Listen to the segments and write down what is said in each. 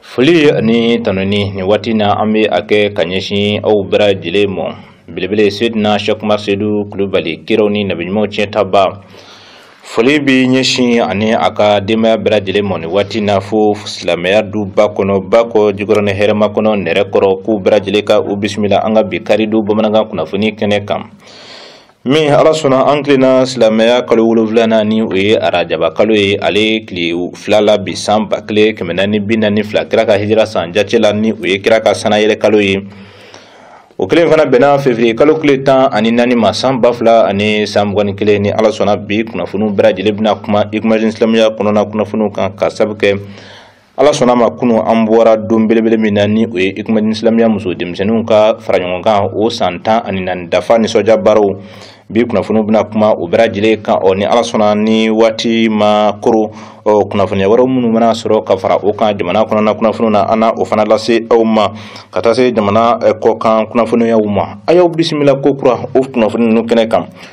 foli ani tanuni nin waati na an bɛ a kɛ ka ɲɛsin aw bɛɛ lajɛlen mɔ belebele sedina shakumar sedu kulubali kiraw ni nabiɲumanw tiɲɛtaba foli bɛ ɲɛsin a ni a ka denbaya bɛɛ lajɛlen mɔ nin waati na fo silamɛya duba kɔnɔ bakɔ jikɔrɔni hɛrɛmakɔnɔ nɛrɛkɔrɔ k'u bɛɛ lajɛlen ka u bisimila an ka bi karidon bamanankan kunnafoni kɛnɛ kan min ala sɔnna an tilenna silamɛya kalo wolonfilanan ni o ye arajaba kalo ye ale tile fila la bi san ba kelen kɛmɛ naani bi naani fila kira ka hijira san jace la ni o ye kira ka sanayɛlɛ kalo ye o kelen fana bɛnna fevriye kalo tile tan ani naani ma san ba fila ani san mugan ni kelen ni ala sɔnna bi kunnafoniw bɛɛ lajɛlen bɛna kuma ikumadin silamɛya kɔnɔna kunnafoniw kan ka sabu kɛ ala sɔnna ma kunu an bɔra don belebele min na ni o ye ikumadin silamɛya muso denmisɛnninw ka faraɲɔgɔnkan o san tan ani naani dafa nisɔndiya baaraw bi kunnafoniw bɛna kuma o bɛɛ lajɛlen kan ɔ ni ala sɔnna ni waati ma koron ɔ kunnafoniya wɛrɛw minnu mana sɔrɔ ka fara o kan jamana kɔnɔna kunnafoniw na an na o fana lase aw ma ka taa se jamana kɔkan kunnafoniyaw ma a y'aw bisimila ko kura o kunnafoni ninnu kɛnɛ kan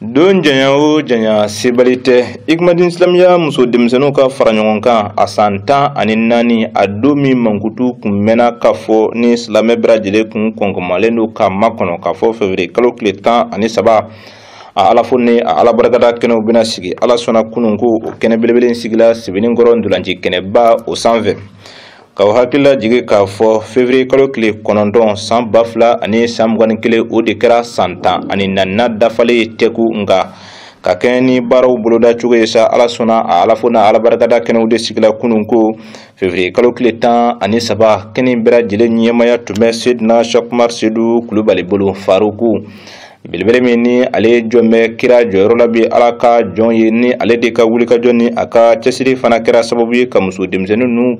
don janya o janya sebali tɛ ikumadin silamɛya muso denmisɛnninw ka fara ɲɔgɔn kan a san tan ani naani a don min mankutu kun mɛnna k'a fɔ ni silamɛ bɛɛ lajɛlen kun kɔnkɔmalen don k'a makɔnɔ k'a fɔ fevriye kalo tile tan ani saba a ala fo ni a ala barikada kɛnɛw bɛna sigi ala sɔnna kunun ko o kɛnɛ belebele sigila sebeninkɔrɔ ntolaci kɛnɛba o sanfɛ K'aw hakilila jigin k'a fɔ fevriye kalo tile kɔnɔntɔn san ba fila ani san mugan ni kelen o de kɛra san tan ani naaninan dafalen ye tɛku nka ka kɛɲɛ ni baaraw boloda cogo ye sa ala sɔnna a ala fo n'a ala barikada kɛnɛw de sigila kunun ko fevrier kalo tile tan ani saba kɛnɛ bɛɛ lajɛlen ɲɛmaya tun bɛ sedina shakumar sedu kulubali bolo faruku belebele min ni ale jɔn bɛ kira jɔyɔrɔ la bi ala ka jɔn ye ni ale de ka wulikajɔ ni a ka cɛsiri fana kɛra sababu ye ka muso denmisɛnnin ninnu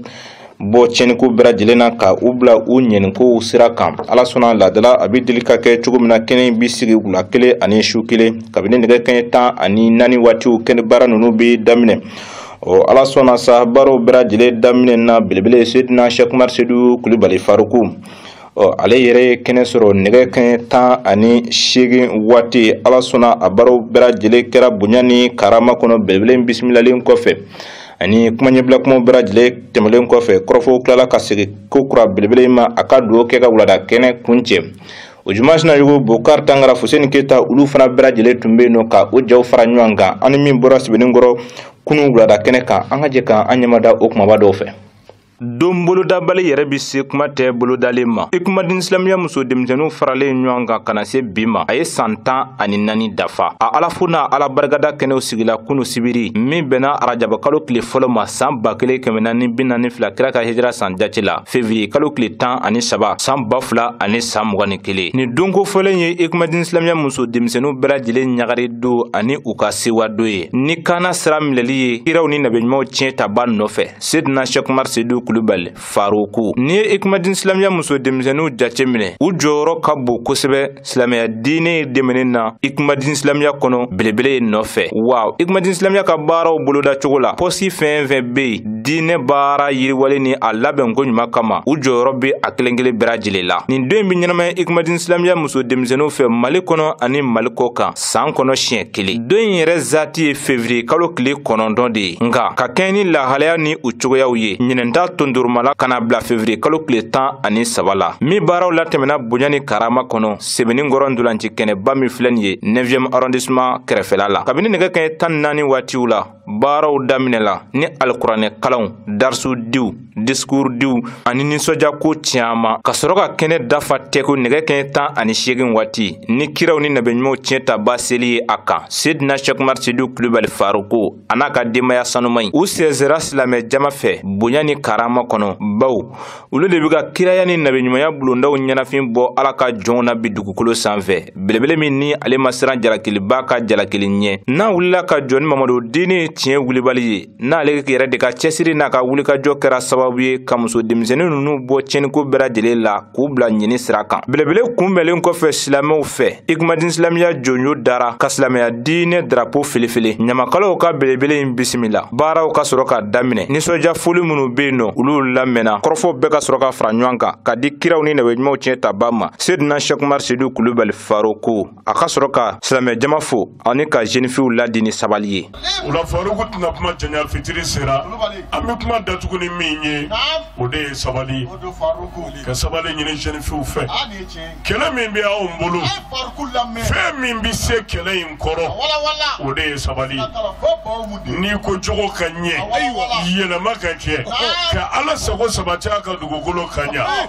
bɔ tiɲɛniko bɛɛ lajɛlen na ka u bila u ɲɛnikow sira kan ala sɔnna laadala a bɛ deli ka kɛ cogo min na kɛnɛ in bɛ sigi wula kelen ani su kelen kabini nɛgɛ kanɲɛ tan ani naani waatiw kɛnɛ baara ninnu bɛ daminɛ ɔ ala sɔnna sa baaraw bɛɛ lajɛlen daminɛna belebele sedina shakumar sedu kulubali faruku ɔ ale yɛrɛ ye kɛnɛ sɔrɔ nɛgɛ kɛɲɛ tan ani seegin waati ala sɔnna a baaraw bɛɛ lajɛlen kɛra bonya ni karama kɔnɔ belebele bisimilalen kɔfɛ ani kuma ɲɛbila kumaw bɛɛ lajɛlen tɛmɛlen kɔfɛ kɔrɔfɔw tilala ka segin ko kura belebele in ma a ka dugawu kɛ ka wulada kɛnɛ kuncɛ o juma sinayɔgɔ bokar tangara fuseni keyita olu fana bɛɛ lajɛlen tun bɛ yen nɔ ka o jaw fara ɲɔgɔn kan ani min bɔra sebeninkɔrɔ kunu wulada kɛnɛ kan an ka jɛ ka an ɲɛmada o kumaba dɔw fɛ don bolodabali yɛrɛ bi se kuma tɛ bolodalen ma Ikumadin silamɛya muso denmisɛnninw faralen ɲɔgɔn kan ka na se bi ma a ye saan tan ani naani dafa a ala fo n'a ala barika da kɛnɛw sigila kunu sibiri min bɛnna arajabakalo tile fɔlɔ ma saan ba kelen kɛmɛ naani bi naani fila kira ka hijira san jati la fevriye kalo tile tan ani saba saan ba fila ani saan mugan ni kelen nin donko fɔlen ye Ikumadin silamɛya muso denmisɛnninw bɛɛ lajɛlen ɲagari don ani u ka sewa don ye ni kaana sira minɛli ye kiraw ni nabiɲumanw tiɲɛ taba nɔfɛ Sedina Sɛkumar Sedu Kulubali Faruku n'i ye Ikumadin silamɛya muso denmisɛnninw jateminɛ u jɔyɔrɔ ka bon kosɛbɛ silamɛya diinɛ dɛmɛni na Ikumadin silamɛya kɔnɔ belebele in nɔfɛ wa Ikumadin silamɛya ka baaraw boloda cogo la pɔsi fɛn fɛn bɛ yen diinɛ baara yiriwali ni a labɛn ko ɲuman kama u jɔyɔrɔ bɛ a kelen kelen bɛɛ lajɛlen la nin don in bɛ ɲɛnamaya Ikumadin silamɛya muso denmisɛnninw fɛ Mali kɔnɔ ani Mali kɔ kan saan kɔnɔ siɲɛ kelen don in yɛrɛ zati ye fevriye kalo tile kɔnɔntɔn de ye nka ka kɛɲɛ ni lahalaya ni u cogoyaw ye ɲinɛn ta tondoromala ka na bila fevriye kalo tile tan ani saba la min baaraw latɛmɛna bonya ni karama kɔnɔ Sebenikɔrɔ ntolaci kɛnɛba min filɛ nin ye 9e arrondissement kɛrɛfɛla la kabini nɛgɛ kɛɲɛ tan ni naani waatiw la baaraw daminɛla ni alikuranɛ kalanw darisu diw disikuuru diw ani nisɔndiyako caman ka sɔrɔ ka kɛnɛ dafa tɛko nɛgɛ kɛɲɛ tan ani seegin waati ni kiraw ni nabiɲumanw tiɲɛ taba seli ye a kan sedina sɛkumar sedu kulubali faruku a n'a ka denbaya sanuman in u sɛnsɛra silamɛ jama fɛ bonya ni karama kɔnɔ baw olu de bɛ ka kiraya ni nabiɲumanya bulondaw ɲɛnafin bɔ ala ka jɔnw na bi dugukolo sanfɛ belebele min ni ale ma siran jalakiliba ka jalakili ɲɛ n'a wulila ka jɔ ni mamadu diini tiɲɛ wulibali ye n'ale yɛrɛ de ka cɛsiri n'a ka wulikajɔ kɛra sababu ye ka muso denmisɛnnin ninnu bɔ tiɲɛniko bɛɛ lajɛlen la k'u bila ɲini sira kan belebele kunbɛnlen kɔfɛ silamɛw fɛ ikumadin silamɛya jɔnjɔn dara ka silamɛya diinɛ darapo felefele ɲamakalaw ka belebele in bisimila baaraw ka sɔrɔ ka daminɛ nisɔnja foli minnu bɛ yen nɔ olu lamɛnna kɔrɔfɔw bɛɛ ka sɔrɔ ka fara ɲɔgɔn kan ka di kiraw ni nabiɲumanw tiɲɛ taba ma sedina sɛkumar sedu kulubali faruku a ka sɔrɔ ka silamɛ jama fo ani ka jenifiw laadi ni sabali ye o la faruku tɛna kuma janya fitiri sera an bɛ kuma datugu ni min ye o de ye sabali ka sabali ɲini jenifiw fɛ kɛlɛ min bɛ anw bolo fɛn min bɛ se kɛlɛ in kɔrɔ o de ye sabali n'i ko jogo ka ɲɛ yɛlɛma ka kɛ ka ala sago sabati a ka dugukolo ka ɲɛ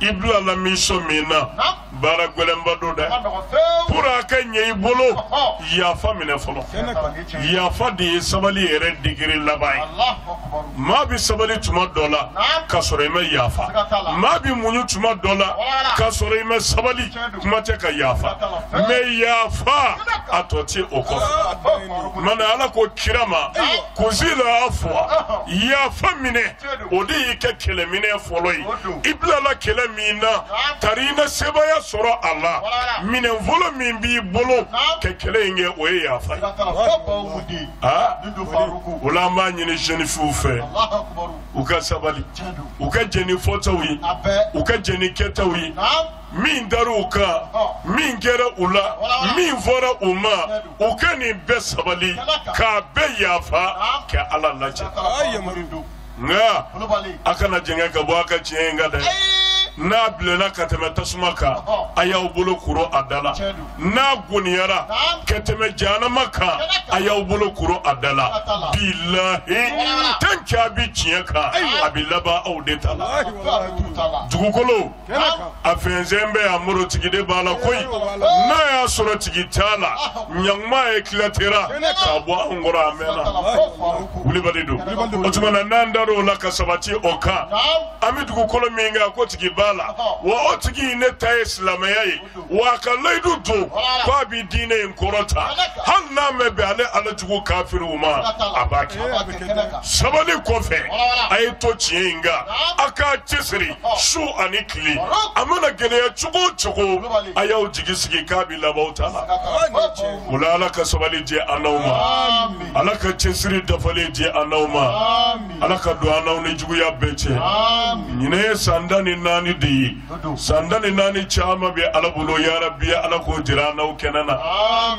i bilala mission min na Naam. baara gɛlɛnba don dɛ Man nɔgɔn fewu. pour a ka ɲɛ i bolo Ɔhɔ. yafa minɛ fɔlɔ Kɛnɛ kan. yafa de ye sabali yɛrɛ digiri laban ye Allahu akbar. maa bɛ sabali tuma dɔ la Naam. ka sɔrɔ i ma yafa Siga t'a la. maa bɛ muɲu tuma dɔ la Wala. ka sɔrɔ i ma sabali Tiɲɛ don. kuma tɛ ka yafa Siga t'a la. mais yafa a tɔ tɛ o kɔfɛ Allahu akbar. mana ala ko kira ma Ayiwa. kuzi la afuwa yafa minɛ o de y'i ka kɛlɛminɛn fɔlɔ ye i bilala kɛlɛ min na tari i na sebaaya sɔrɔ a la minɛn fɔlɔ min b'i bolo ka kɛlɛ in kɛ o ye yafa ye o la an b'a ɲini jɛnifiw fɛ u ka sabali u ka jɛn ni fɔtaw ye u ka jɛn ni kɛtaw ye min dar'u kan min kɛra u la min fɔra u ma u ka nin bɛɛ sabali k'a bɛɛ yafa ka ala lajɛ nka a kana jɛngɛ ka bɔ a ka tiɲɛ in kan dɛ n'a bilenna ka tɛmɛ tasuma kan a y'aw bolo kuru a da la n'a goniyara ka tɛmɛ jahanama kan a y'aw bolo kuru a da la bilahi tant qu'a bi tiɲɛ kan a bɛ laban aw de ta la dugukolo a fɛnsɛn bɛ a muru tigi de b'a la koyi n'a y'a sɔrɔ tigi t'a la ɲankuma ye tilatera k'a bɔ an kɔrɔ a mɛnna wulibali don o tuma na n'an dar'o la ka sabati o kan an bɛ dugukolo min kan ko tigi b'a la wa o tigi de ta ye silamɛya ye wa a ka layidu don ko a bɛ diinɛ in kɔrɔta hali n'a man bɛn ale ala jugu kafiriw ma a b'a kɛ sabali kɔfɛ a ye to tiɲɛ in kan a k'a cɛsiri su ani tile a mana gɛlɛya cogo o cogo a y'aw jigi sigi k'a bɛ laban aw ta la o la ala ka sabali di an n'aw ma ala ka cɛsiri dafalen di an n'aw ma ala ka don an n'aw ni juguya bɛɛ cɛ ɲinan ye san tan ni naani de ye san tan ni naani caman bɛ ala bolo yarabi ala k'o jira an n'aw kɛnɛ na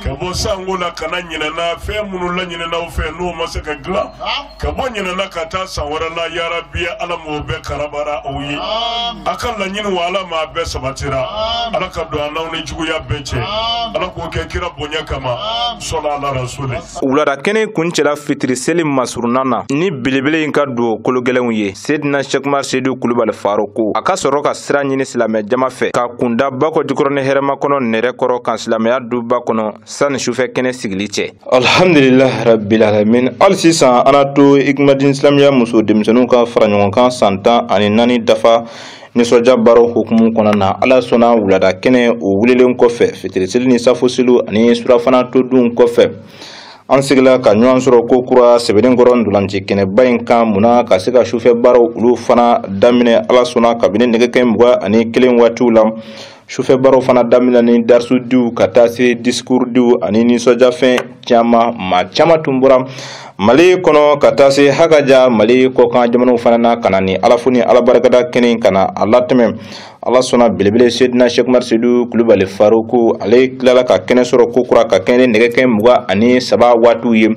ka bɔ san kɔrɔ la ka na ɲinan na fɛn minnu laɲinin'aw fɛ n'o ma se ka dilan ka bɔ ɲinan na ka taa san wɛrɛ la yarabi ala m'o bɛɛ karabara aw ye a ka laɲiniw ala m'a bɛɛ sabatira ala ka don an n'aw ni juguya bɛɛ cɛ ala k'o kɛ kira bonya kama sɔli ala rasuli wulada kɛnɛ kuncɛla fitiri seli masurunna na ni belebele in ka duwawu kologɛlɛnw ye sedina sɛku umaru sedu kulubali faruku a ka sɔrɔ ka sira ɲini silamɛ jama fɛ ka kunda bakɔjikɔrɔni hɛrɛmakɔnɔ nɛrɛkɔrɔ kan silamɛya duba kɔnɔ sani sufɛ kɛnɛ sigili cɛ alhamdulilah rabbil alamin hali sisan an to ikimadin silamɛya muso denmisɛnninw ka faraɲɔgɔnkan san tan ani naani dafa nisɔndiya baaraw hukumu kɔnɔna na ala sɔnna wulada kɛnɛ o wulilen kɔfɛ fitiriseli ni safoseliw ani surafana todunw kɔfɛ an seginna ka ɲɔgɔn sɔrɔ kokura sebeninkɔrɔ ndolanci kɛnɛba in kan munna ka se ka sufɛ baaraw olu fana daminɛ ala sɔnna kabini nɛgɛ kanɲɛ mugan ani kelen waatiw la sufɛ baaraw fana daminɛ ni darisudiw ka taa se disikurudiw ani nisɔndiyafɛn caman maa caman tun bɔra mali kɔnɔ ka taa se hakaja mali kɔkan jamanaw fana na ka na nin alafo ni alabarikada kɛnɛ ka na a latɛmɛ ala sɔnna belebele sedina sɛkumari sedu kulubali faruku ale tilala ka kɛnɛ sɔrɔ ko kura ka kɛnɛ nɛgɛ kaɲɛ muga ani saba waatiw ye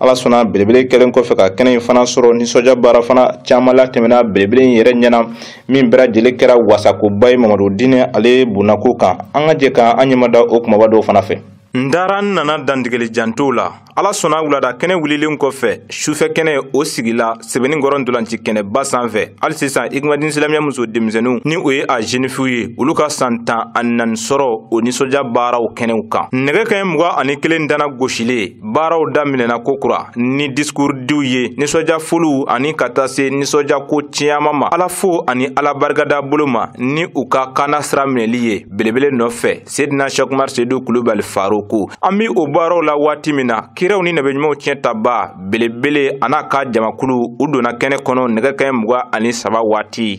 ala sɔnna belebele kɛlen kɔfɛ ka kɛnɛ in fana sɔrɔ nisɔndiya baara fana caman latɛmɛna belebele in yɛrɛ ɲɛna min bɛɛ lajɛlen kɛra wasakoba ye mamadu diinɛ ale bonnako kan an ka jɛ ka an ɲɛmada o kumaba dɔw fana fɛ n dara n nana dantigɛli jantow la ala sɔnna wulada kɛnɛ wulilen kɔfɛ sufɛ kɛnɛ o sigila sebeninkɔrɔ ntolanci kɛnɛba san fɛ hali sisan ikimadini silamɛya muso denmisɛnninw ni o ye a zenifiw ye olu ka san tan ani naani sɔrɔ o nisɔndiya baaraw kɛnɛw kan nɛgɛ kaɲɛ muga ani kelen dana gosilen baaraw daminɛna ko kura ni disikurudiw ye nisɔndiya foliw ani ka taa se nisɔndiya ko caman ma ala fo ani ala barikada bolo ma ni u ka kaana sira minɛli ye belebele nɔfɛ sedina sɛkumari sedu kulubali faruku an be o baaraw la waati min na kiraw ni nabiɲumanw tiɲɛtabaa belebele an'a ka jamakulu u donna kɛnɛ kɔnɔ nɛgɛ kaɲɛ muga ani saba waati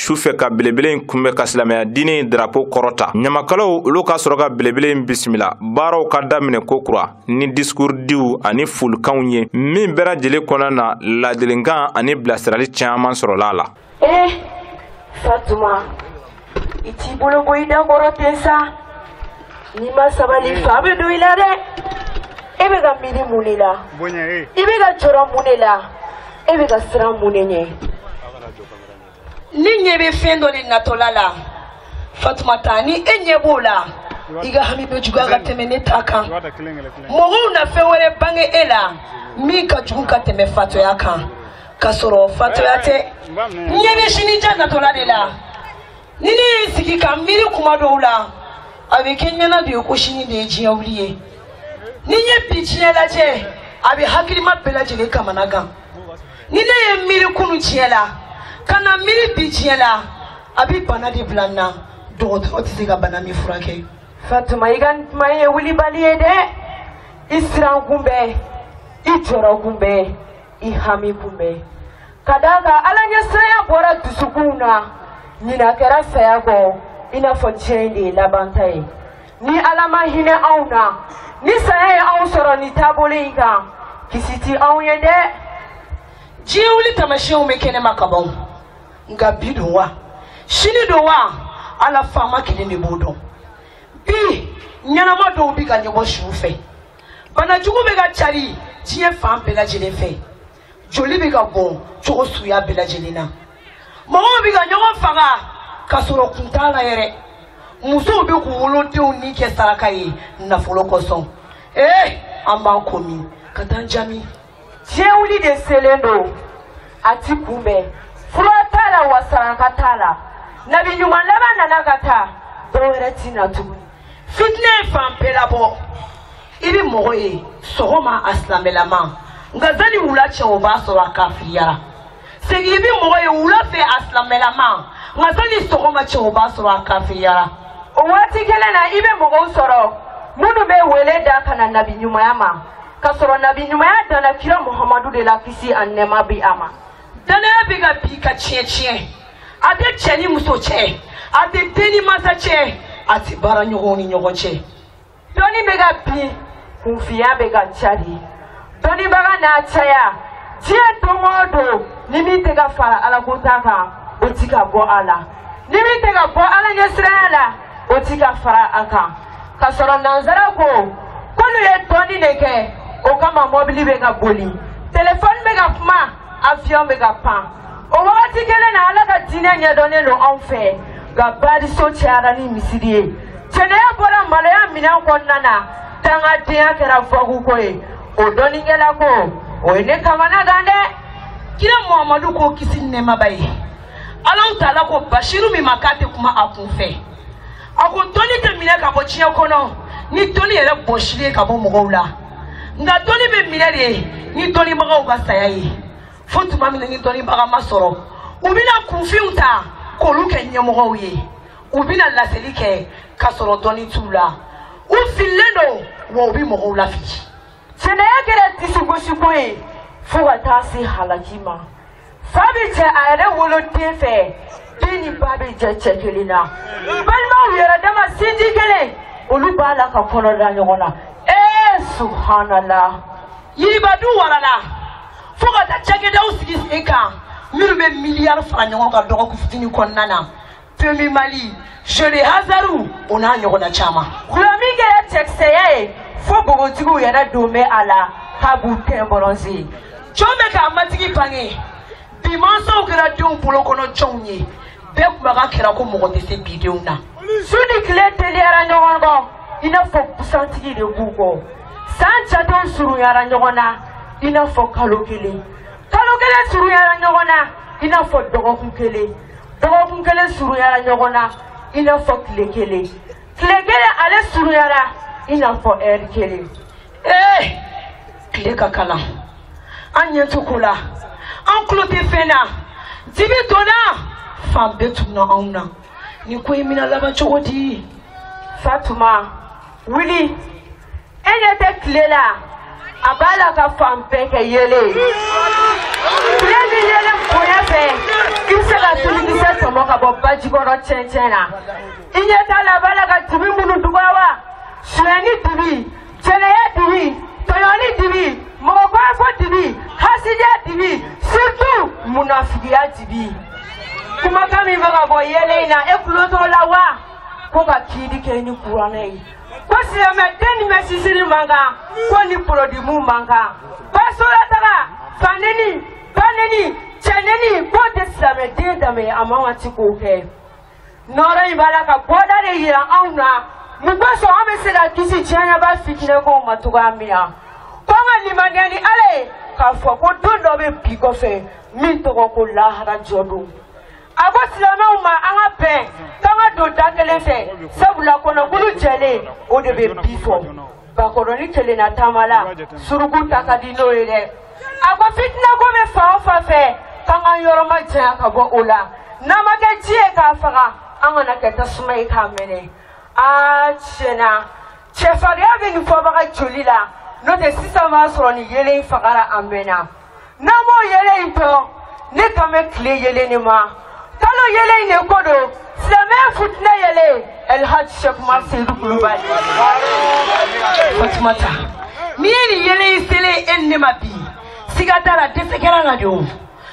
su fɛ ka belebele in kunbɛ ka silamɛya diinɛ drapo kɔrɔta ɲamakalaw olu ka sɔrɔ ka belebele in bisimila baaraw ka daminɛ ko kura ni disikurudiw ani folikanw ye min bɛɛ lajɛlen kɔnɔna na laadilikan ani bilasirali caman sɔrɔla a la eh, fatuma i t'i bolo bɔ i da kɔrɔ ten sa n'i ma sabali fa bɛ don i la dɛ e bɛ ka miiri mun de la i bɛ ka jɔrɔ mun de la e bɛ ka siran mun de ɲɛ ne ɲɛ bɛ fɛn dɔ de natɔla la fatumata ni e ɲɛ b'o la i ka hami bɛ juguya ka tɛmɛ ne ta kan mɔgɔw na fɛn wɛrɛ bange e la min ka jugu ka tɛmɛ fatoya kan ka sɔrɔ fatoya tɛ n ɲɛ bɛ sinijan natɔla de la ni ne ye n sigi ka miiri kuma dɔw la a bɛ kɛ n ɲɛna de ye ko sini de ye diɲɛ wuli ye ni n ye bi diɲɛ lajɛ a bɛ hakilima bɛɛ lajɛlen kamana gan ni ne ye miiri kunu diɲɛ la ka na miiri bi diɲɛ la a bɛ bana de bila n na dɔgɔtɔrɔ tɛ se ka bana min furakɛ. fatuma i ka kuma in ye wulibali ye dɛ i siran kun bɛ i jɔrɔ kun bɛ i hami kun bɛ ka d'a kan ala ɲɛsiranya bɔra dusukunw na ɲinan kɛra saya kɔ i n'a fɔ diɲɛ in de ye labanta ye. ni ala ma hinɛ anw na ni saya ye anw sɔrɔ nin taabolo in kan kisi ti anw ye dɛ diɲɛ wuli taamasiyɛnw bɛ kɛnɛma ka ban nka bi don wa sini don wa ala faama kelen de b'o dɔn bi ɲɛnama dɔw bɛ ka ɲɔgɔn su fɛ banajugu bɛ ka cari diɲɛ fan bɛɛ lajɛlen fɛ joli bɛ ka bɔn cogo suguya bɛɛ lajɛlen na mɔgɔw bɛ ka ɲɔgɔn faga ka sɔrɔ kun t'a la yɛrɛ musow bɛ k'u wolodenw ni kɛ saraka ye nafolo kosɔn ee an b'an ko min ka taa jami diɲɛ wuli de selen don a ti kunbɛn fura t'a la wa saraka t'a la nabi ɲuman laban nana ka taa dɔwɛrɛ ti na tuguni fitinɛ ye fan bɛɛ labɔ i bɛ mɔgɔ ye sɔgɔma a silamɛlama nka sani wula cɛ o b'a sɔrɔ a kafiriyara segin i bɛ mɔgɔ ye wula fɛ a silamɛlama nka sani sɔgɔma cɛ o b'a sɔrɔ a kafiriyara o waati kelen na i bɛ mɔgɔw sɔrɔ minnu bɛ wele da ka na nabi ɲumanya ma ka sɔrɔ nabi ɲumanya danna kira muhamadu de la kisi ani nɛɛma bi a ma dannaya bɛ ka bin ka tiɲɛ tiɲɛ a tɛ cɛ ni muso cɛ a tɛ den ni mansa cɛ a tɛ baaraɲɔgɔnw ni ɲɔgɔn cɛ dɔnni bɛ ka bin kunfinya bɛ ka cari dɔnnibaga n'a caya diɲɛ don o don ni min tɛ ka fara alako ta kan o ti ka bɔ a la ni min tɛ ka bɔ ala ɲɛsiranya la o ti ka fara a kan ka sɔrɔ nansara ko k'olu ye dɔnni de kɛ o kama mɔbili bɛ ka boli telefɔni bɛ ka kuma afiyɔn bɛ ka pan o wagati kelen na ala ka diinɛ ɲɛdɔnnen don anw fɛ nka bariso cayara ni misiri ye jɛnɛya bɔra maloya minɛn kɔnɔna na dangadenya kɛra fɔkuko ye o dɔnnikɛla ko o ye ne kamanagan dɛ kira muhamadu ko kisi ni nɛɛma b'a ye alahu taala ko basiru min ma k'a tɛ kuma a kun fɛ a ko dɔnni tɛ minɛ ka bɔ diɲɛ kɔnɔ ni dɔnni yɛrɛ bɔsili ye ka bɔ mɔgɔw la nka dɔnni bɛ minɛ de ni dɔnnibagaw ka saya ye fo tuma min na ni dɔnnibaga ma sɔrɔ u bɛna kunfinw ta k'olu kɛ ɲɛmɔgɔw ye u bɛna laseli kɛ ka sɔrɔ dɔnni t'u la u fililen don wa u bɛ mɔgɔw lafili Jɛnɛya kɛra disigosiko ye fo ka taa se halaki ma fa bɛ jɛ a yɛrɛ woloden fɛ den ni ba bɛ jɛ cɛ kelen na balimaw yɛrɛ dama sinji kelen olu b'a la ka kɔnɔ da ɲɔgɔn na ee subuhanala riba dun warala fo ka taa cakɛdaw sigi sen kan minnu bɛ miliyari fara ɲɔgɔn kan dɔgɔkun fitinin kɔnɔna na PMU Mali, jeux de hasard, o n'a ɲɔgɔnna caman. Dɔlɔmin kɛra cɛkisɛya ye fo bogotigiw yɛrɛ dɔ bɛ a la k'a b'u teint bronzé. Jɔn bɛ k'a matigi bange bi mansaw kɛra denw bolo kɔnɔ jɔnw ye bɛɛ kumakan kɛra ko mɔgɔ tɛ se bi denw na. Su ni tile teliyara ɲɔgɔn kɔ i n'a fɔ busantigi de b'u kɔ san jatew surunyara ɲɔgɔn na i n'a fɔ kalo kelen. kalo kelen surunyara ɲɔgɔn na i n'a fɔ dɔgɔkun kelen dɔgɔkun kelen surunyara ɲɔgɔn na i n'a fɔ tile kelen tile kelen ale surunyara i n'a fɔ ɛri kelen ee tile ka kalan an ɲɛ tɛ ko la an tulo tɛ fɛn na dibi donna fan bɛɛ tunna anw na nin ko in bɛna laban cogo di fatuma wuli e ɲɛ tɛ tile la a b'a la ka fan bɛɛ kɛ yeelen ye tile de yeelen bonya fɛ i bɛ se ka tulikisɛ tɔmɔ ka bɔ baji kɔrɔ cɛncɛn na i ɲɛ t'a la a b'a la ka dibi minnu dugura wa sonyɛni dibi jɛnɛya dibi tɔɲɔni dibi mɔgɔkɔfɔ dibi hasidiya dibi surtout munafigiya dibi kumakan min bɛ ka bɔ yeelen in na e tulo t'o la wa ko ka kiiri kɛ ni kuranɛ ye ko silamɛ den ni mɛsi siri man kan k'o ni pɔrɔdi mun man kan basolataga faneni baneni cɛneni k'o tɛ silamɛ den danbe a man kan a tigi k'o kɛ nɔɔrɔ in b'a la ka bɔda de yira anw na min kosɔn an bɛ se ka kisi diɲɛba fitinɛkow ma cogoya min na ko an ka limaniya ni ala ye k'a fɔ ko don dɔ bɛ bi kɔfɛ min tɔgɔ ko lahara jɔ don A ko silamɛw ma an ka bɛn k'an ka don da kelen fɛ sabula kɔnɔkulu jɛlen o de bɛ bi fɔ bakɔrɔni kelenna taamala suruku ta ka di n'o ye dɛ a ko fitinako bɛ fan o fan fɛ k'an ka yɔrɔ majanya ka bɔ o la n'an ma kɛ ji ye k'a faga an kana kɛ tasuma ye k'a mɛnɛ aa tiɲɛ na cɛfarinya bɛ nin fɔbaga joli la n'o tɛ sisan b'a sɔrɔ nin yeelen fagara a mɛnna n'an b'o yeelen in fɔ ne kan bɛ tile yeelen de ma kalo yeelen in de ko don silamɛya fitinɛ yeelen ɛlhaji sɛkuma seyidu kulubali fatumata n'i ye nin yelen in selen e ni ne ma bi siga t'a la dɛsɛ kɛra na de o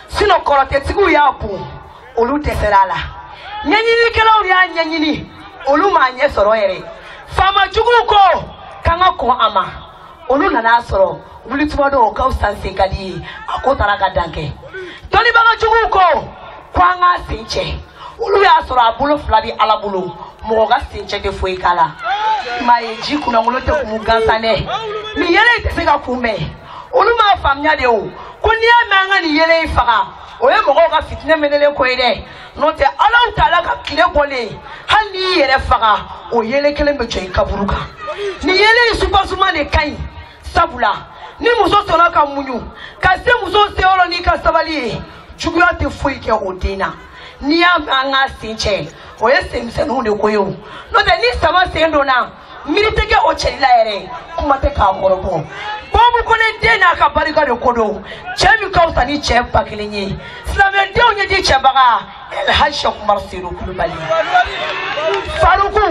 sinɔn kɔrɔtɛtigiw y'a bon olu dɛsɛra a la ɲɛɲinikɛlaw y'a ɲɛɲini olu m'a ɲɛ sɔrɔ yɛrɛ faama juguw ko k'an ka kɔn a ma olu nan'a sɔrɔ wuli tuma dɔn ka fisa sen ka di ye a ko taara ka dan kɛ dɔnnibaga juguw ko ko an k'a sen cɛ olu y'a sɔrɔ a bolo fila bɛ ala bolo mɔgɔ ka sen cɛ tɛ foyi k'a la maa ye ji kunnankolo tɛ kumu gansan dɛ nin yeelen in tɛ se ka kunbɛn olu m'a faamuya de o ko n'i y'a mɛn an ka nin yeelen in faga o ye mɔgɔw ka fitinɛ mɛnɛlen ko ye dɛ n'o tɛ alahu taala ka tile bɔlen hali n'i y'i yɛrɛ faga o yeelen kelen bɛ jɔ i kaburu kan nin yeelen in supasuma de ka ɲi sabula ni muso sɔnna ka muɲu ka se muso seyɔrɔ n'i ka sabali ye juguya tɛ foyi kɛ o den na n'i y'a mɛn an k'a sen cɛ o ye senmisɛnninw de ko ye o n'o tɛ ni sama sen donna miiri tɛ kɛ o cɛli la yɛrɛ kuma tɛ k'a kɔrɔbɔ bɔbu kone den n'a ka barika de ko don cɛ min ka fisa ni cɛ ba kelen ye silamɛdenw ɲɛji cɛbaga elhaji sɛkumar sedu kulubali faruku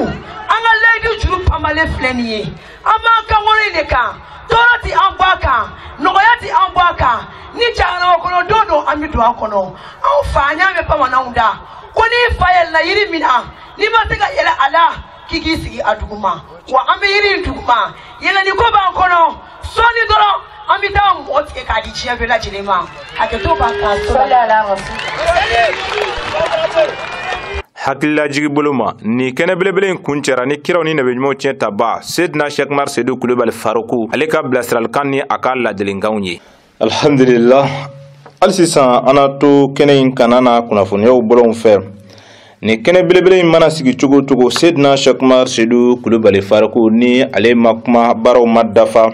an ka layidu juru panbalen filɛ nin ye an b'an kan kɔrɔ in de kan tɔɔrɔ tɛ an bɔ a kan nɔgɔya tɛ an bɔ a kan ni jahanama kɔnɔ don don an bɛ don a kɔnɔ anw fana y'a mɛn bamananw da ko n'i fa yɛlɛnna yiri min na n'i ma se ka yɛlɛn a la k'i k'i sigi a duguma wa an bɛ yiri in duguma yɛlɛni ko b'an kɔnɔ sɔɔni dɔrɔn an bɛ taa mɔ tigɛ k'a di diɲɛ bɛɛ lajɛlen ma hakɛto b'a kan hakililajigi bolo ma nin kɛnɛ belebele in kun cɛra ni kiraw ni nabiɲumanw tiɲɛ tabaa sedina sɛkumar sedu kulubali faroku ale ka bilasiralikan ni a ka ladilikanw ye alhamdulillah hali sisan an na to kɛnɛ in kan an'a kunnafoniyaw bolonw fɛ nin kɛnɛ belebele in mana sigi cogo o cogo sedina sɛkumar sedu kulubali faruku ni ale ma kuma baaraw ma dafa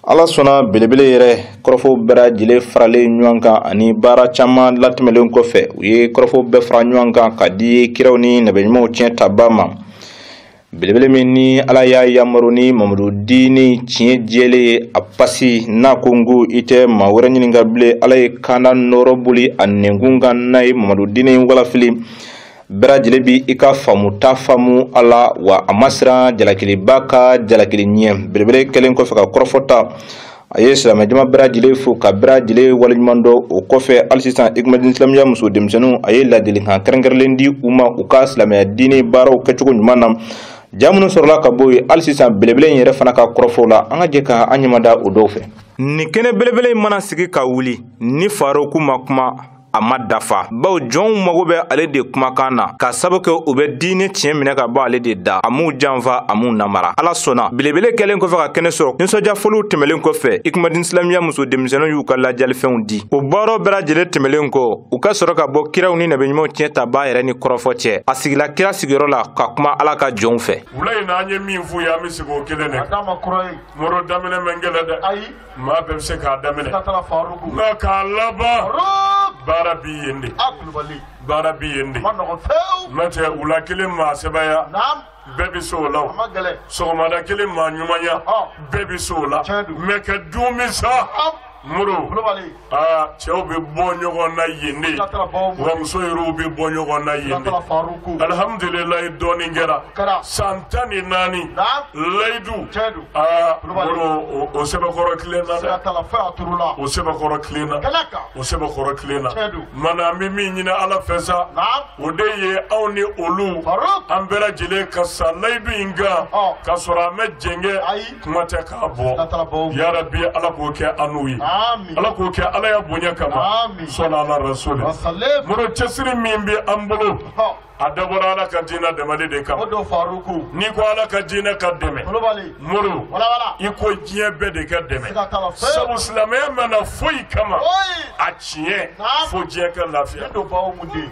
ala sɔnna belebele yɛrɛ kɔrɔfɔw bɛɛ lajɛlen faralen ɲɔgɔn kan ani baara caman latɛmɛlen kɔfɛ u ye kɔrɔfɔw bɛɛ fara ɲɔgɔn kan ka di kiraw ni nabiɲumanw tiɲɛ tabaa ma belebele min ni ala y'a yamaru ni mamadu dini tiɲɛ jɛlen ye a pasi n'a kunko i tɛ maa wɛrɛ ɲininka bilen ala ye kanda nɔɔrɔ boli a nɛnkun kan n'a ye mamadu dini walafili bɛɛ lajɛlen bi i ka faamuta faamu a la wa a ma siran jalakiliba ka jalakili ɲɛ belebele kɛlen kɔfɛ ka kɔrɔfɔ ta a ye silamɛjama bɛɛ lajɛlen fo ka bɛɛ lajɛlen waleɲuman dɔn o kɔfɛ hali sisan ikumadin silamɛya muso denmisɛnninw a ye ladilikan kɛrɛnkɛrɛnlen di u ma u ka silamɛya diinɛ baaraw kɛcogo ɲuman na ja minnu sɔrɔla ka bɔ yen hali sisan belebele in yɛrɛ fana ka kɔrɔfɔw la an ka jɛ ka an ɲɛmada o dɔw fɛ nin kɛnɛ belebele in mana sigi ka wuli ni faroku ma kuma a ma dafa bawo jɔnw mago bɛ ale de kumakan na ka sabu kɛ u bɛ diinɛ tiɲɛ minɛ ka bɔ ale de da a m'u janfa a m'u namara ala sɔnna belebele kɛlen kɔfɛ ka kɛnɛ sɔrɔ nisɔndiya fɔliw tɛmɛlen kɔfɛ ikumadin silamɛya muso denmisɛnninw y'u ka lajalifɛnw di o baaraw bɛɛ lajɛlen tɛmɛlen kɔ u ka sɔrɔ ka bɔ kiraw ni nabiɲumanw tiɲɛ tabaa yɛrɛ ni kɔrɔfɔ cɛ a sigila kira sigiyɔrɔ la ka kuma ala ka jɔnw fɛ wula in na an ye min f'u ye an bɛ sigi o kelen de kan a k'a ma kura ye mɔrɔ daminɛ man gɛlɛn dɛ ayi Maa bɛɛ bɛ se k'a daminɛ nka k'a laban baara bɛ yen de baara bɛ yen de n'o tɛ wula kelen maa sɛbɛya bɛɛ bɛ se o la sɔgɔmada kelen maa ɲumanya bɛɛ bɛ se o la mɛ kɛ don min sa mori Aa cɛw bɛ bɔ ɲɔgɔn na yen de wa muso yɛrɛw bɛ bɔ ɲɔgɔn na yen alihamdulilayi dɔɔnin kɛra san tan ni naani layidu aa o sɛbɛkɔrɔ tilenna dɛ o sɛbɛkɔrɔ tilenna o sɛbɛkɔrɔ tilenna mana an bɛ min ɲini ala fɛ sa o de ye anw ni olu an bɛɛ lajɛlen ka sa layidu in kan ka sɔrɔ an mɛ jɛngɛ ayi kuma tɛ k'a bɔ A t'a bɔ. yarabi ala k'o kɛ anw ye Amin. ala k'o kɛ ala ya bonya kama Amin. sɔnna ala rasuli Wasalem. moro cɛsiri min bɛ an bolo Hɔ. a dabɔra ala ka diinɛ dɛmɛli de O kama don Faruku. n'i ko ala ka diinɛ ka dɛmɛ Kulubali. moro Wala wala. i ko diɲɛ bɛɛ de ka dɛmɛ Siga t'a la fiyewu. sabu silamɛya ma na foyi kama Foyi. a tiɲɛ Naam. fo diɲɛ ka lafiya Ne don Bawumu den.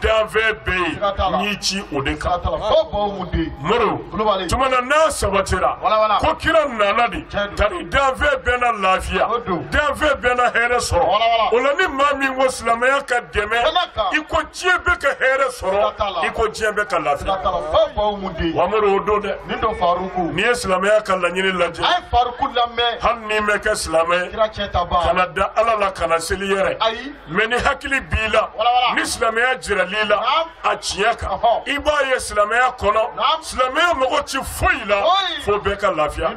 danfɛn bɛɛ ye Siga t'a la. n'i ci o de kan Siga t'a la. Fɔ Bawumu den. moro Kulubali. tuma na n'a sabatira Wala, wala. ko kira nana de Tiɲɛ don. tari danfɛn bɛɛ na lafiya O don. danfɛn bɛɛ na hɛrɛ sɔrɔ Wala, wala. o la ni maa min ko silamɛya ka dɛmɛ Ala ka. i ko diɲɛ bɛɛ ka hɛrɛ Siga t'a la. sɔrɔ i ko diɲɛ bɛɛ ka Siga lafiya t'a la. Fɔ Bawumu den. wa moro o don dɛ Nin don Faruku. n'i ye silamɛya ka laɲini lajɛ A ye Faruku lamɛn. hali n'i mɛ kɛ silamɛ ye Kira cɛ ta ban. kana da ala la kana seli yɛrɛ Ayi. mɛ ni hakili b'i la ni silamɛya jirala i la a tiɲɛ kan i b'a ye silamɛya kɔnɔ silamɛya mago ti foyi la fo bɛɛ ka lafiya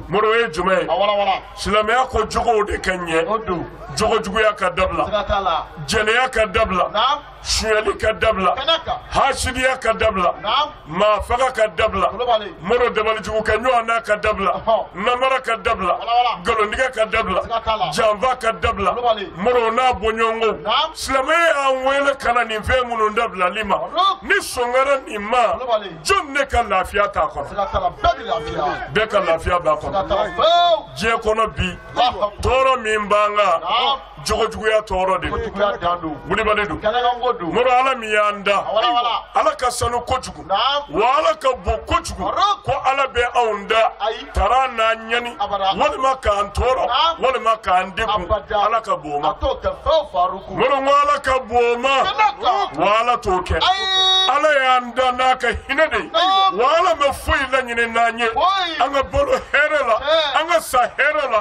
moro ye jumɛn ye silamɛya ko jogow de ka ɲɛ jogo juguya ka dabila jɛnɛya ka dabila suyali ka dabila hasidiya ka dabila maa faga ka dabila moro dabalijugu kɛ ɲɔgɔn na ka dabila namara ka dabila nkalontigɛ ka dabila janfa ka dabila moro n'a bɔɲɔgɔnko silamɛya y'an wele ka na nin fɛn minnu dabilali ma ni sɔn kɛra nin ma jɔn ne ka lafiya t'a kɔnɔ bɛɛ ka lafiya b'a kɔnɔ diɲɛ kɔnɔ bi tɔɔrɔ min b'an kan jogojuguya tɔɔrɔ de don moro ala min y'an da ala ka sanu kojugu wa ala ka bon kojugu ko ala bɛ anw da taara n'an ɲani walima k'an tɔɔrɔ walima k'an degun ala ka bon ma moro ala ka bon ma wa ala t'o kɛ ala y'an da n'a ka hinɛ de ye wa ala ma foyi laɲini n'an ye an ka balo hɛrɛ la an ka sa hɛrɛ la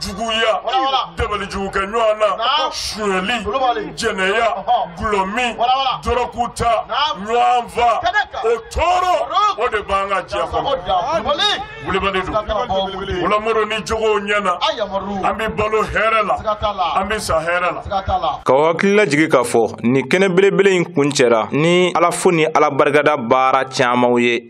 juguya dabali jugu kɛ ɲɔgɔn na suyɛli jɛnɛya dɔlɔmin dɔrɔkuta ɲɔgɔn fa o tɔɔrɔ o de b'an kan diɲɛ kɔnɔ wulibali don o la moro ni jogow ɲɛna an bɛ balo hɛrɛ la an bɛ sa hɛrɛ la k'aw hakili lajigi k'a fɔ nin kɛnɛ belebele in kuncɛra ni ala fo ni ala barikada baara camanw ye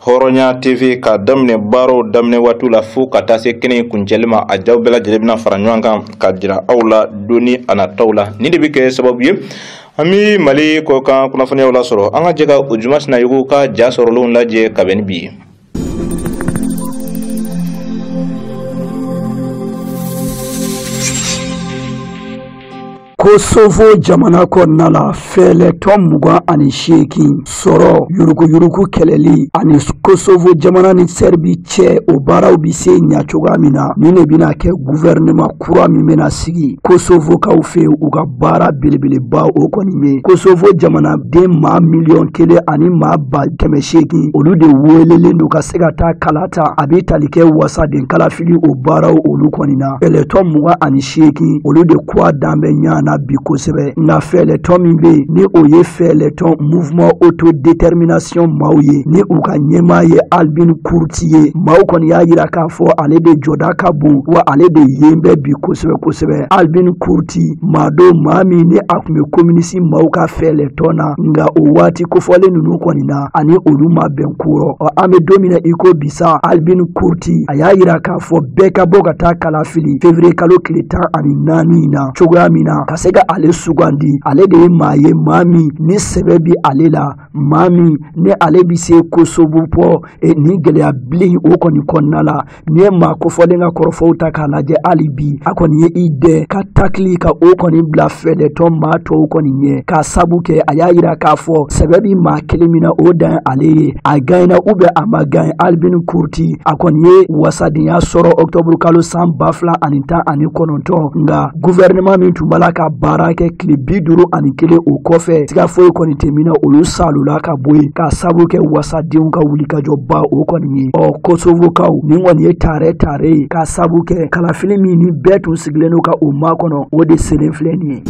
hɔrɔnya tv ka daminɛ baaraw daminɛ waatiw la fo ka taa se kɛnɛ in kuncɛli ma a jaw bɛɛ lajɛlen bɛna fara ɲɔgɔn kan ka jira aw la doni a nataw la nin de bɛ kɛ sababu ye an bɛ mali kɔkan kunnafoniyaw lasɔrɔ an ka jɛ ka ojuma sinayogo ka ja sɔrɔlenw lajɛ ka bɛn ni bi ye kosovo jamana kɔnɔna la fɛɛlɛtɔn mugan ani seegin sɔrɔ yuruguyurugu kɛlɛli ani kosovo jamana ni sɛribi cɛ o baaraw bi se ɲa cogoya min na nin de bɛna kɛ guvɛrɛnɛma kura min bɛna sigi kosovokaw fɛ u ka baara belebeleba o kɔni ye kosovo jamanaden maa miliyɔn kelen ani maa ba kɛmɛ seegin olu de welelen don ka se ka taa kala ta a bɛ tali kɛ wasaden kalafili o baaraw olu kɔni na fɛɛlɛtɔn mugan ani seegin olu de kuwa dan bɛ ɲɔgɔn na bi kosɛbɛ nka fɛɛlɛtɔn min bɛ yen ni o ye fɛɛlɛtɔn mouvement autodétermination maaw ye ni u ka ɲɛmaa ye albin kurti ye maaw kɔni y'a jira k'a fɔ ale de jɔda ka bon wa ale de yen bɛ bi kosɛbɛ kosɛbɛ albin kurti maa don maa min ni a tun bɛ kominisi maaw ka fɛɛlɛtɔn na nka o waati kofɔlen ninnu kɔni na ani olu ma bɛn kɔrɔ ɔ an bɛ don min na i ko bisa albin kurti a y'a jira k'a fɔ bɛɛ ka bɔ ka taa kala fili fevriye kalo tile tan ani naani in na cogoya min na ka se ka ale sugandi ale de ye maa ye maa min ni sɛbɛ bi ale la maa min ni ale bi se kosovo bɔ e, nin gɛlɛya bilen o kɔni kɔnɔna la ni ye maa kofɔlen ka kɔrɔfɔw ta k'a lajɛ hali bi a kɔni ye i dɛ ka takili ka o kɔni bila fɛɛlɛtɔn maa tɔw kɔni ɲɛ k'a sabu kɛ a y'a yira k'a fɔ sɛbɛ bi maa kelen min na o dan ye ale ye a gaɲɛna ou bien a ma gaɲɛ albin kurti a kɔni ye wasadenya sɔrɔ ɔktɔburu kalo san ba fila ani tan ani kɔnɔntɔn nka guvɛrɛnɛma min tun b'a la ka baara kɛ tile bi duuru ani kelen o kɔfɛ siga foyi kɔni tɛ min na olu salula ka bɔ yen k'a sabu kɛ wasadenw ka wulikajɔba o kɔni ye ɔ kosovokaw nin kɔni ye taarɛ taarɛ ye k'a sabu kɛ kalafili min ni bɛɛ tun sigilen don ka o makɔnɔ o de selen filɛ nin ye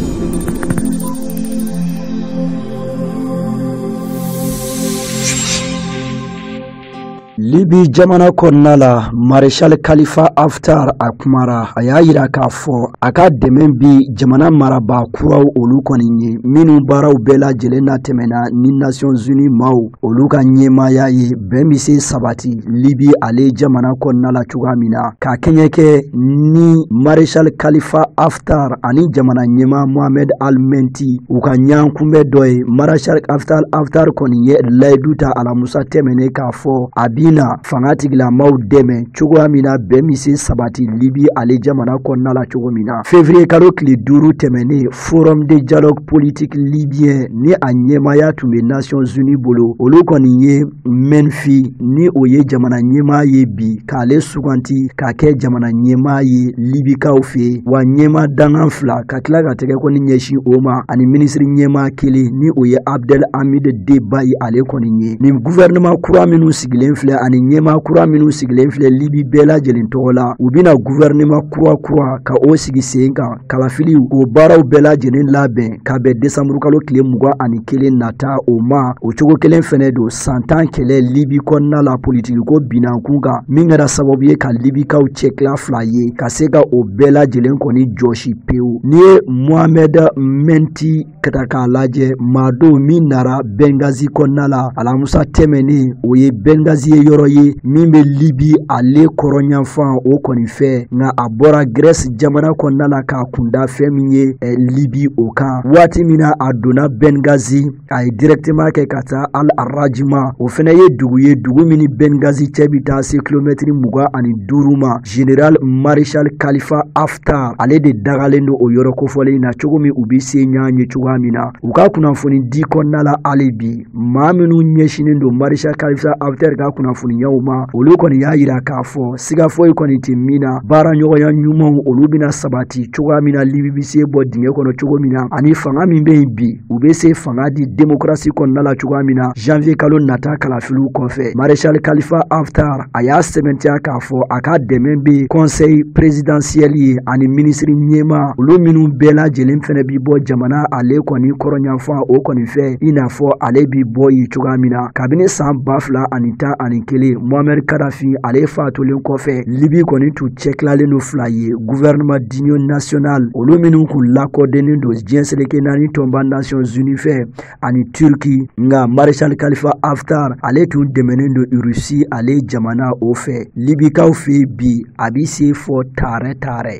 libi jamana kɔnɔna la marechal kalifa haftar a kumara a y'a yira k'a fɔ a ka dɛmɛ bi jamana marabaa kuraw olu kɔni ye minnu baaraw bɛɛ lajɛlen na tɛmɛna ni nations unies maaw olu ka ɲɛmaaya ye bɛn bɛ se sabati libi ale jamana kɔnɔna la cogoya min na ka kɛɲɛ kɛ ni marechal kalifa haftar Haftar ani jamana ɲɛmaa Mohamed Al-Menti u ka ɲɔgɔnkunbɛn dɔ ye Marechal Haftar Haftar kɔni ye layidu ta alamusa tɛmɛnen k'a fɔ a bɛna fanga tigilamaw dɛmɛ cogoya min na bɛn bɛ se sabati Libi ale jamana kɔnɔna la cogo min na février kalo tile duuru tɛmɛnen Forum de dialogue politique libyen ni a ɲɛmaaya tun bɛ Nations Unies bolo olu kɔni ye mɛnfi ni o ye jamana ɲɛmaa ye bi k'ale suganti k'a kɛ jamana ɲɛmaa ye libikaw fɛ wa ɲɛmaa dangan fila ka tila ka tɛgɛ kɔni ɲɛsin o ma ani minisiri ɲɛmaa kelen ni o ye abdel hamid deba ye ale kɔni ye nin guvɛrɛnɛma kura minnu sigilen filɛ ani ɲɛmaa kura minnu sigilen filɛ libi bɛɛ lajɛlen tɔgɔ la u bɛna guvɛrɛnɛma kura kura ka o sigi sen kan kalafili o baaraw bɛɛ lajɛlen labɛn ka bɛn desanburukalo tile mugan ani kelen nata o ma o cogo kelen fɛnɛ don san tan kɛlɛ libi kɔnɔna la politikiko bin ɲɔgɔn kan min kɛra sababu ye ka libikaw cɛtila fila ye ka se ka o bɛɛ lajɛlen kɔni jɔsi pewu n'i ye mohamɛd mɛnfi ka ta k'a lajɛ maa don min nara bɛngazi kɔnɔna la alamusa tɛmɛnen o ye bɛngazi ye yɔrɔ ye min bɛ libi ale kɔrɔnyanfan o kɔni fɛ nka a bɔra grɛsi jamana kɔnɔna la k'a kunda fɛn min ye eh, libi o kan waati min na a donna bɛngazi a ye dirɛkiteman kɛ ka taa al rajima o fana ye dugu ye dugu min ni bɛngazi cɛ bɛ taa se kilomɛtiri mugan ani duuru ma General Marechal Khalifa Haftar ale de dagalen don o yɔrɔ kofɔlen in na cogo min u bɛ se ɲɔgɔn ye cogoya min na u ka kunnafoni di kɔnɔna la hali bi maa minnu ɲɛsinnen don Marechal Khalifa Haftar ka kunnafoniyaw ma olu kɔni y'a yira k'a fɔ siga foyi kɔni tɛ min na baara ɲɔgɔnya ɲumanw olu bɛna sabati cogoya min na Libi bɛ se bɔ dingɛ kɔnɔ cogo min na ani fanga min bɛ yen bi u bɛ se fanga di démocratie kɔnɔna la cogoya min na janvier kalo nata kalafiliw kɔfɛ Marechal Khalifa Haftar a y'a sɛbɛntiya k'a fɔ a ka dɛmɛ bɛ kɔnsɛyi perezidansiyɛli ye ani minisiri ɲɛmaa olu minnu bɛɛ lajɛlen fɛnɛ bi bɔ jamana ale kɔni kɔrɔnyanfan o kɔni fɛ i n'a fɔ ale bi bɔ yen cogoya min na kabini san ba fila ani tan ani kelen muammar kadafi ale fatulen kɔfɛ libi kɔni tun cɛtilalen don fila ye guvɛrɛnɛman diniyɔn nasiyonal olu minnu kun lakodɔnnen don diɲɛ seleke naani tɔnba nasiyɔn zini fɛ ani Turki nka Marechal Khalifa Haftar ale tun dɛmɛnen don Russie ale jamana o fɛ Libikaw fɛ bi a bɛ se fɔ taarɛ taarɛ.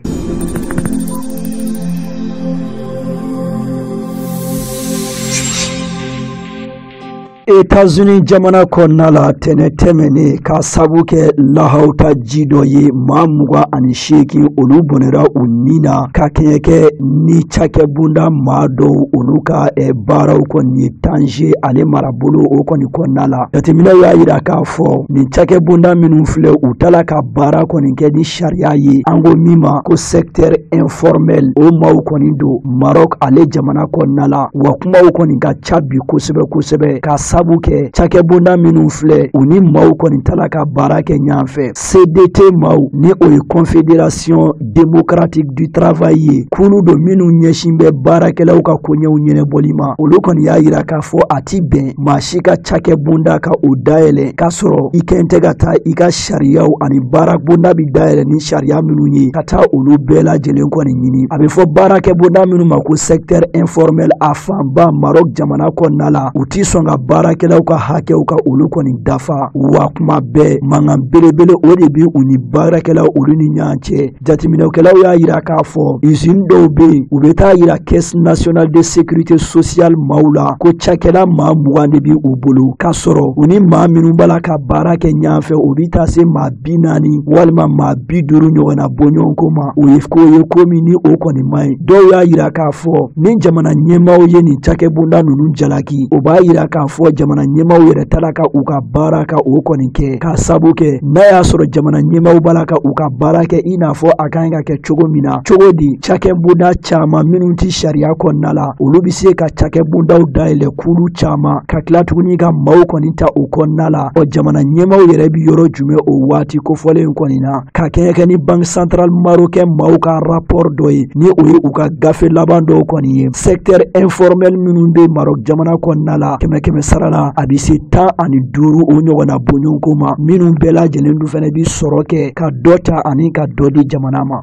Etazini jamana kɔnɔna la ntɛnɛn tɛmɛnen ka sabu kɛ lahawuta ji dɔ ye maa mugan ani seegin olu bɔnɛra u ni na ka kɛɲɛ kɛ ni cakɛbonda maa dɔw olu ka eh, baaraw kɔni ye tanze ale marabolo o kɔni kɔnɔna la jateminɛw y'a yira k'a fɔ nin cakɛbonda minnu filɛ u t'a la ka baara kɔni kɛ ni sariya ye an ko min ma ko secteur informel o maaw kɔni don maroc ale jamana kɔnɔna la wa kumaw kɔni ka ca bi kosɛbɛ kosɛbɛ ka sabu kɛ cakɛbonda minnu filɛ u ni maaw kɔni t'a la ka baara kɛ ɲɔgɔn fɛ cdt maaw ni o ye confédération démocratique du travail ye kulu don minnu ɲɛsin bɛ baarakɛlaw ka koɲɛw ɲɛnabɔli ma olu kɔni y'a yira k'a fɔ a ti bɛn maa si ka cakɛbonda ka o dayɛlɛ k'a sɔrɔ i kɛn tɛ ka taa i ka sariyaw ani baarabonda bi dayɛlɛ ni sariya minnu ye ka taa olu bɛɛ lajɛlen kɔni ɲini a bɛ fɔ baarakɛbonda minnu ma ko secteur informel a fanba marɔk jamana kɔnɔna la u ti sɔn ka baarakɛlaw ka hakɛw ka olu kɔni dafa wa kuma bɛɛ mankan belebele o de bi u ni baarakɛlaw olu ni ɲɔgɔn cɛ jateminɛkɛlaw y'a yira k'a fɔ usine dɔw bɛ yen u bɛ t'a yira caisse nationale de sécurité sociale maaw la ko cakɛla maa mugan de bi u bolo k'a sɔrɔ u ni maa minnu b'a la ka baara kɛ ɲɔgɔn fɛ o bɛ taa se maa bi naani walima maa bi duuru ɲɔgɔnna bɔɲɔgɔnko ma o ye ko ye ko min ni o kɔni man ɲi dɔw y'a yira k'a fɔ ni jamana ɲɛmaaw ye nin cakɛbonda ninnu jalaki o b'a yira k'a fɔ jamana ɲɛmaaw yɛrɛ t'a la ka u ka baara ka o kɔni kɛ k'a sabu kɛ n'a y'a sɔrɔ jamana ɲɛmaaw b'a la ka u ka baara kɛ i n'a fɔ a ka ɲi ka kɛ cogo min na cogo di cakɛbonda caman minnu tɛ sariya kɔnɔna la olu bɛ se ka cakɛbondaw dayɛlɛ kulu caman ka tila tuguni ka maaw kɔni ta o kɔnɔna la ɔ jamana ɲɛmaaw yɛrɛ bi yɔrɔ jumɛn o waati kofɔlen kɔni na ka kɛɲɛ kɛ ni banque centrale marocaine maaw ka rapport dɔ ye ni o ye u ka gafe laban dɔw kɔni ye secteur informel minnu be marɔk jamana kɔnɔna la kɛmɛ kɛmɛ sara la a be se tan ani duuru o ɲɔgɔnna bɔɲɔgɔnko ma minnu bɛɛ lajɛlen dun fɛnɛ bi sɔrɔ kɛ ka dɔ ta ani ka dɔ di jamana ma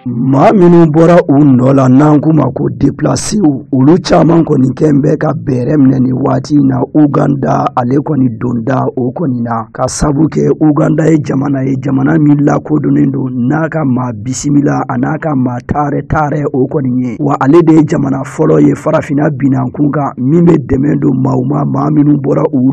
maa minnu bɔra u nɔ la n'an k'u ma ko deplasew olu caman kɔni kɛn bɛ ka bɛrɛ minɛ nin waati in na uganda ale kɔni donda o kɔni na ka sabu kɛ uganda ye jamana ye jamana min lakodɔnnen don n'a ka maa bisimila an'a ka maa taarɛ taarɛ o kɔni ye wa ale de ye jamana fɔlɔ ye farafinna binankun kan min bɛ dɛmɛ don maaw ma maa minnu bɔra u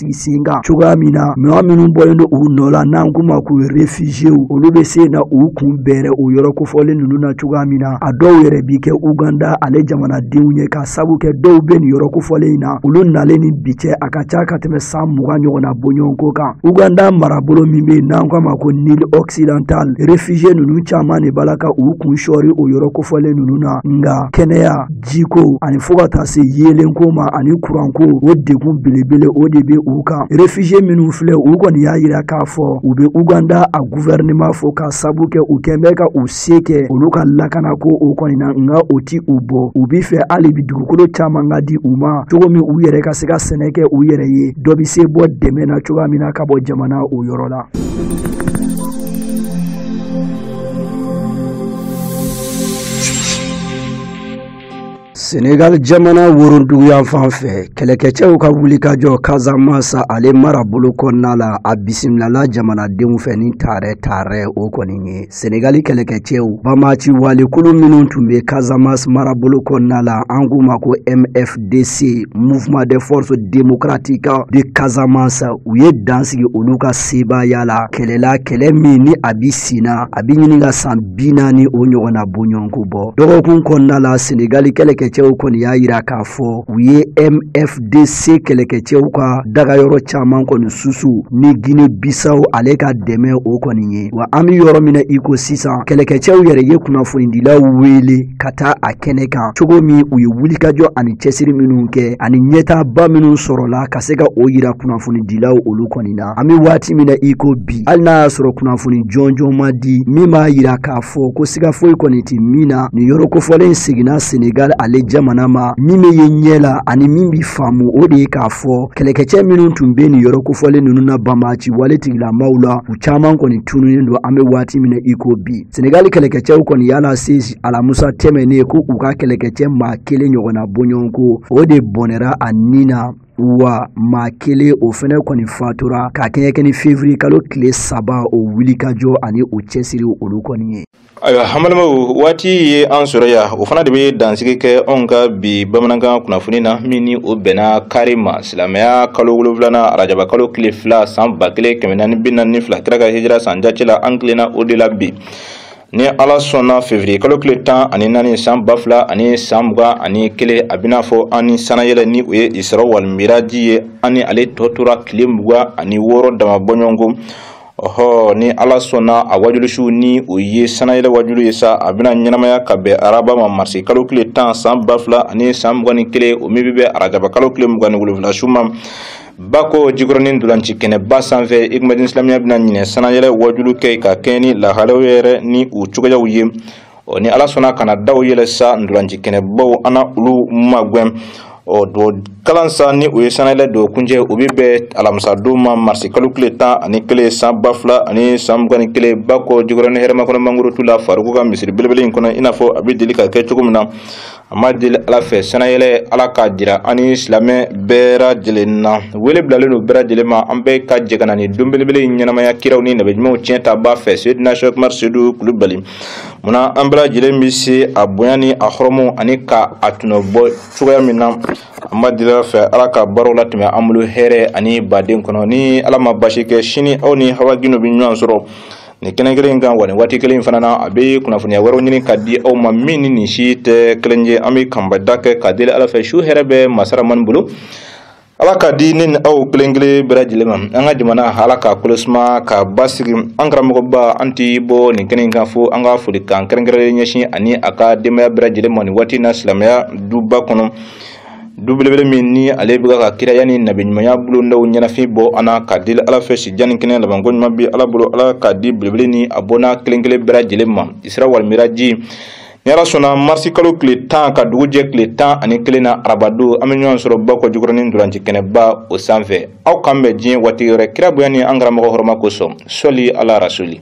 sigi sen kan cogoya min na maa minnu bɔlen don u nɔ la n'an k'u ma ko réfugiéw olu bɛ se na u kun bɛrɛ o yɔrɔ kofɔlen ninnu na cogoya min na a dɔw yɛrɛ bi kɛ uganda ale jamanadenw ye k'a sabu kɛ dɔw bɛ nin yɔrɔ kofɔlen in na olu nalen ni bi cɛ a ka ca ka tɛmɛ san mugan ɲɔgɔnna bɔɲɔgɔnko kan uganda marabolo min bɛ yen n'an k'a ma ko nil occidental réfugié ninnu caman de b'a la ka u kun sɔɔri o yɔrɔ kofɔlen ninnu na nka kɛnɛya jiko ani fo ka taa se yeelenko ma ani kuranko o degun belebele o de bɛ u kan réfugié minnu filɛ u kɔni y'a yira k'a fɔ u bɛ uganda a guvɛrɛnɛman fo ka sabu kɛ u kɛn bɛ ka u se kɛ olu ka lakana ko o kɔni na nka o ti u bɔ u b'a fɛ hali bi dugukolo caman ka di u ma cogo min u yɛrɛ ka se ka sɛnɛ kɛ u yɛrɛ ye dɔ bɛ se bɔ dɛmɛ na cogoya min na ka bɔ jamana o yɔrɔ la senegal jamana woronduguyanfan fɛ kɛlɛkɛcɛw ka wulikajɔ kazamas ale marabolo kɔnɔna la a bisimilala jamanadenw fɛ ni taarɛ taarɛ o kɔni ye senegali kɛlɛkɛcɛw bamaci walekulu minnu tun be kazamas marabolo kɔnɔna la an k'u ma ko mfdc mouvement des forces démocratiques de kazamas u ye dan sigi olu ka sebaaya la kɛlɛ la kɛlɛ min ni a bi sina a bi ɲini ka san bi naani o ɲɔgɔnna bɔɲɔgɔnko bɔ dɔgɔkun kɔnɔna la senegali kɛlɛkɛcɛw kɔni y'a yira k'a fɔ u ye mfdc kɛlɛkɛcɛw ka dagayɔrɔ caaman kɔni susu ni gine bisaw ale ka dɛmɛ o kɔni ye wa an be yɔrɔ min na i ko sisan kɛlɛkɛcɛw yɛrɛ ye kunnafonidilaw weele ka taa a kɛnɛ kan cogo min u ye wulikajɔ ani cɛsiri minw kɛ ani ɲɛtaaba minw sɔrɔla ka se ka o yira kunnafonidilaw olu kɔni na an bɛ waati min na i ko bi hali n'a y'a sɔrɔ kunnafoni jɔnjɔn ma di min b'a yira k'a fɔ ko siga foyi kɔni tɛ min na nin yɔrɔ kofɔlen seginna senegal ale jamana ma min bɛ ye ɲɛ la ani min bɛ faamu o de ye k'a fɔ kɛlɛkɛcɛ minnu tun bɛ nin yɔrɔ kofɔlen ninnu na banbaaci wale tigilamaw la u caman kɔni tununen don an bɛ waati min na i ko bi senegal kɛlɛkɛcɛw kɔni y'a lase alamusa tɛmɛnnen ko u ka kɛlɛkɛcɛ maa kelen ɲɔgɔnna bɔɲɔgɔnko o de bɔnɛra a ni na wa maa kelen o fɛnɛ kɔni fatura ka kɛɲɛ kɛ ni fevriye kalo tile saba o wulikajɔ ani o cɛsiri olu kɔni ye ayiwa an balimaw waati ye an sɔrɔ ya o fana de bɛ dansigi kɛ anw ka bi bamanankan kunnafoni na min ni o bɛnna kari ma silamɛya kalo wolonwulana arajaba kalo tile fila san ba kelen kɛmɛ naani bi naani ni fila kira ka hijira san jate la an tilenna o de la bi ni ala sɔnna fevriye kalo tile tan ani naani san ba fila ani san mugan ani kelen a bɛna fɔ an ni sanayɛlɛ ni o ye isara walimiraji ye an ni ale tɔ tora tile mugan ani wɔɔrɔ dama bɔɲɔgɔnko ɔhɔ ni ala sɔnna a wajulusiw ni o ye sanayɛlɛ wajulu ye sa a bɛna ɲɛnamaya ka bɛn araba ma marisi kalo tile tan san ba fila ani san mugan ni kelen o min bɛ bɛn arajaba kalo tile mugan ni wolonwula su ma bakɔ jikɔrɔnin ntolanci kɛnɛba sanfɛ ikumɛdin isilamiya bɛna ɲinɛ sanayɛlɛ wajulu kɛ ka kɛɲɛ ni lahalaw yɛrɛ ni u cogoyaw ye ɔ ni ala sɔnna ka na daw yɛlɛ sa ntolanci kɛnɛbaw an na olu magwɛn ɔ don kalan sa ni o ye sanayɛlɛ don kuncɛ o bɛ bɛn alamisa don ma marisi kalo tile tan ani kelen san ba fila ani san mugan ni kelen bakɔ jikɔrɔnin hɛrɛmakɔnɔ mangorotu la faruku ka misiri belebele in kɔnɔ i n'a fɔ a bɛ deli ka kɛ cogo min na an b'a deli ala fɛ sanayɛlɛ ala k'a jira an ni silamɛ bɛɛ lajɛlen na wele bilalen don bɛɛ lajɛlen ma an bɛɛ ka jɛ ka na ni don belebele in ɲɛnamaya kiraw ni nabi ɲumanw tiɲɛ tabaa fɛ seydina shɛk umar seyidu kulubali munna an bɛɛ lajɛlen bɛ se a bonya ni a hɔrɔmɔ ani ka a tɔnɔ bɔ cogoya min na an b'a deli ala fɛ ala ka baaraw latɛmɛ an bolo hɛrɛ ani baden kɔnɔ ni ala ma basi kɛ sini aw ni hawa gino bɛ ɲɔgɔn sɔrɔ nin kɛnɛ kelen in kan wa nin waati kelen in fana na a bɛ kunnafoniya wɛrɛw ɲini ka di aw ma min ni nin si tɛ kelen ye an bɛ kanbada kɛ ka deli ala fɛ su hɛrɛ bɛ masa ramani bolo ala k'a di ne ni aw kelen kelen bɛɛ lajɛlen ma an ka jamana ala ka kolo suma ka basigi an karamɔgɔba an tɛ bɔ nin kɛnɛ in kan fo an ka folikan kɛrɛnkɛrɛnnen ɲɛsin a ni a ka denbaya bɛɛ lajɛlen ma nin waati in na silamɛya duba kɔnɔ du belebele min ni ale bɛ ka kiraya ni nabiɲumanya bulondaw ɲɛnafin bɔ an na k'a deli ala fɛ si jan ni kɛnɛ labanko ɲuman bi ala bolo ala k'a di belebele ni a bɔnna kelen kelen bɛɛ lajɛlen ma isira wali miraji ni ala sɔnna marisi kalo tile tan ka dugu jɛ tile tan ani kelen na arabado an bɛ ɲɔgɔn sɔrɔ bakɔ jikɔrɔnin ntolanci kɛnɛba o sanfɛ aw k'an bɛn diɲɛ waati wɛrɛ kira bonya ni an karamɔgɔ hɔrɔma kosɔn sɔli ala rasuli